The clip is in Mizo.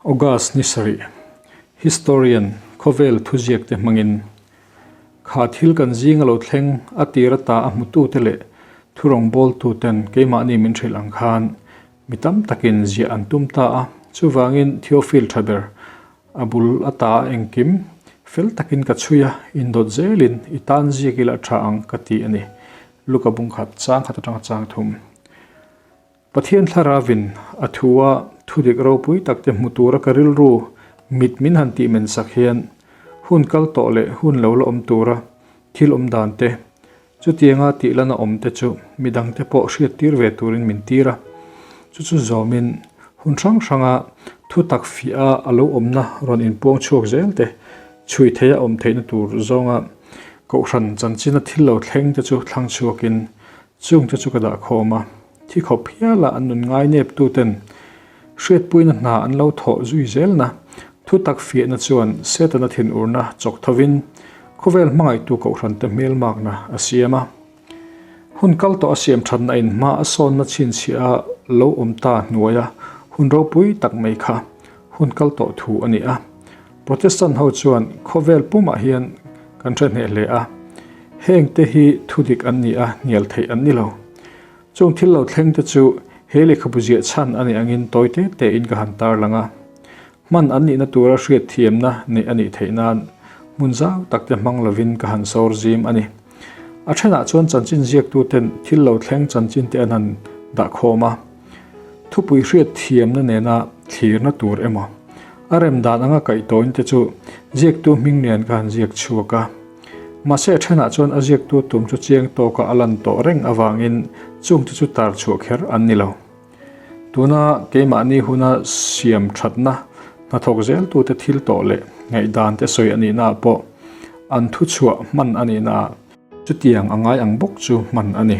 August ni sarih, Historian khawvel thuziakte hmangin kha thil kan zing a lo thleng a tir ata a hmutute leh thurawngbawl-tuten keimahni min hrilh ang khan mi tam takin ziah an tum ta a. Chuvangin Theophil tha ber a bul ata a engkim fel takin ka chhui a, indawt zelin i tan ziak ila a tha ang ka ti a ni. Luka bungkhat chang khat atanga chang thum. Pathian thla ravin a thu a thudik ropui takte hmu tura ka rilru mit min han tih men sak hian hun kal tawh leh hun lo la awm tura thil awm dan te, chutianga tih lana awm te chu mi dangte pawh hriat tir ve turin min tir a. Chu chu zawmin hun hrang hranga thutak fiah a a lo awmna rawn inpuang chhuak zel te, chhui theih a awm theihna tur zawnga kohhran chanchin a thil lo thleng te chu thlang chhuakin Chung te chu ka dah khawm a, thi khawp hial a an nun ngai nep tu ten hriatpuina hna an lo thawh zui zel na, thu tak fiah na chuan Setana thin ur na chawk tho in khawvel hmangaih tu kohhran te hmel mak na a siam a. Hun kal tawh a siam that na in hma a sawn na chhin chhia a lo awm ta hnuai a hun ropui tak mai kha hun kal tawh thu a ni a. Protestant ho chuan khawvel pumah hian kan hrehneh hle a, heng te hi thudik an ni a, hnial theih an ni lo. Chung thil lo thleng te chu he lehkhabu ziah chhan a nih angin tawi te tein ka han tarlang a. Hman an nihna tura hriat thiamna neih a nih theih nan hmun zau tak te hmang lovin ka han sawr zim a ni. A then ah chuan chanchin ziaktu ten thil lo thleng chanchin te an han dah khawm a. Thupui hriat thiamna nena thlirna tur emaw a rem dan anga kaih tawhin te chu ziaktu hming lian kha an ziak chhuak a. Mahse a thenah chuan a ziaktu tum chu chiang tawka a lan tawh reng avangin chungte chu tar chhuah kher an ni lo. Tuna keimahni huna siam thatna hnathawk zeltute thil tawh leh ngaihdante sawi a nihnaah pawh an thu chhuah hman a nihnaah chutiang a ngai ang bawk chu hman a ni.